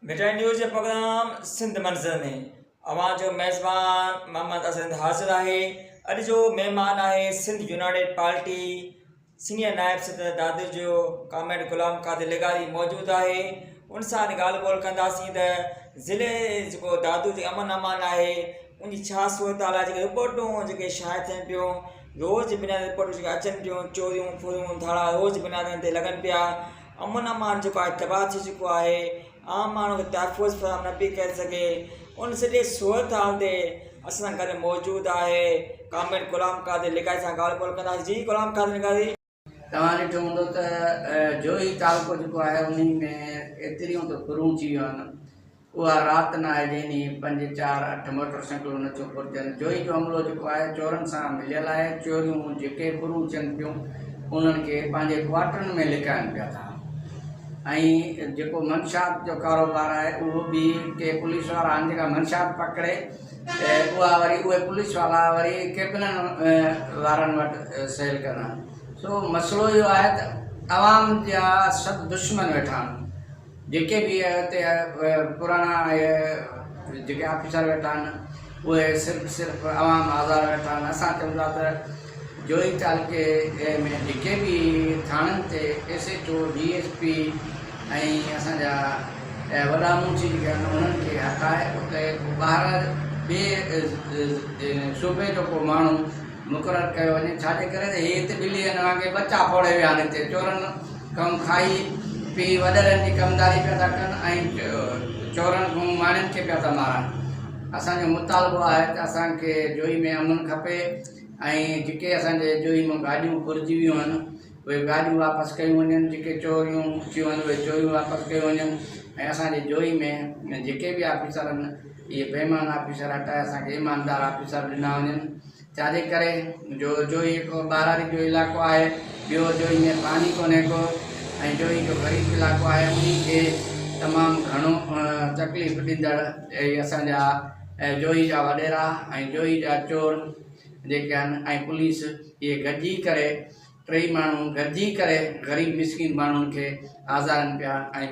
مي time news جي programme Sindh منظر ۾ اوهان جو ميزبان محمد اظهر حاضر آهي اڄ جو مهمان آهي سنڌ يونائيٽيڊ پارٽي سينئر نائب صدر دادو جو ڪامريڊ غلام قادر لغاري موجود آهي ان سان اڄ ڳالهه ٻولهه ڪنداسين ته ضلعي جيڪو دادو جي امن امان آهي ان جي ڇا صورتحال آهي جيڪي رپورٽون جيڪي شايع ٿين پيون روز جي بنا رپورٽون جيڪي اچن پيون چوريون ڦوريون ڌاڙا روز بنا تي لڳن پيا امن امان جيڪو آهي تباهه ٿي چڪو آهي عام ماڻهو کي تحفظ فراهم نه پئي ڪري سگهي ان سڄي صورت حال تي اسان سان گڏ موجود آهي ڪامريڊ غلام قادر لغاري سان ڳالهه ٻولهه ڪنداسين جي غلام قادر لغاري. توهان ڏٺو هوندو ته جوهي تعلقو جيڪو آهي انهي ۾ ايتريون ته ڦرون ٿي ويون آهن اها رات نه آهي جنهن ڏينهن پنج چار اٺ موٽر سائيڪلون نه ٿيون پرچن. جوئي جو عملو جيڪو آهي چورن سان مليل آهي. چوريون جيڪي پروچن پيون انهن کي پنهنجي ڪوارٽرن ۾ لڪائن پيا ٿا ۽ جيڪو منشيات جو ڪاروبار آهي اهو به ڪي پوليس وارا آهن جيڪا منشيات پڪڙي ته اها وري اهي پوليس والا وري ڪيپنن وارن وٽ سيل ڪن ها سو مسئلو اهو آهي ته عوام جا سڀ دشمن ويٺا آهن. جيڪي به اتي پراڻا جيڪي آفيسر ويٺا آهن اهي صرف صرف عوام آزار ويٺا آهن اسان چئون ٿا ته جوهي تعلقي ۾ جيڪي به ٿاڻن تي S H O D S P ۽ اسان جا وڏا منشي جيڪي آهن انهن کي هٽائي اتي ٻاهر ٻي صوبي جو ڪو ماڻهو مقرر ڪيو وڃي ڇاجي ڪري ته هي هتي ٻلي ۽ نانگي ٻچا ڦوڙي ويا آهن هتي چورن کان کائي پي وڏيرن جي ڪمداري پيا ٿا ڪن ۽ چورن کان ماڻهن کي پيا ٿا مارن اسان جو مطالبو آهي ته اسان کي جوئي ۾ امن کپي ۽ جيڪي اسان جي جوئي مان گاڏيون ڦرجي ويون آهن اهي گاڏيون واپس ڪيون وڃن جيڪي چوريون ٿيون آهن اهي چوريون واپس ڪيون وڃن ۽ اسان جي جوئي ۾ جيڪي به آفيسر آهن اهي بي ايمان آفيسر هٽائي اسان کي ايماندار آفيسر ڏنا وڃن چاري ڪري جو جو هي ڪو ٻاراڙي جو علائقو آهي ٻيو جو هي ۾ پاڻي ڪونهي ڪو ۽ جو هي جو غريب علائقو آهي انهي کي تمام گهڻو تڪليف ڏيندڙ اهي اسان جا جو هي جا وڏيرا ۽ جو هي جا چور جيڪي آهن ۽ پوليس اهي گڏجي ڪري ٽئي ماڻهو گڏجي ڪري غريب مسڪين ماڻهن کي آزارين پيا ۽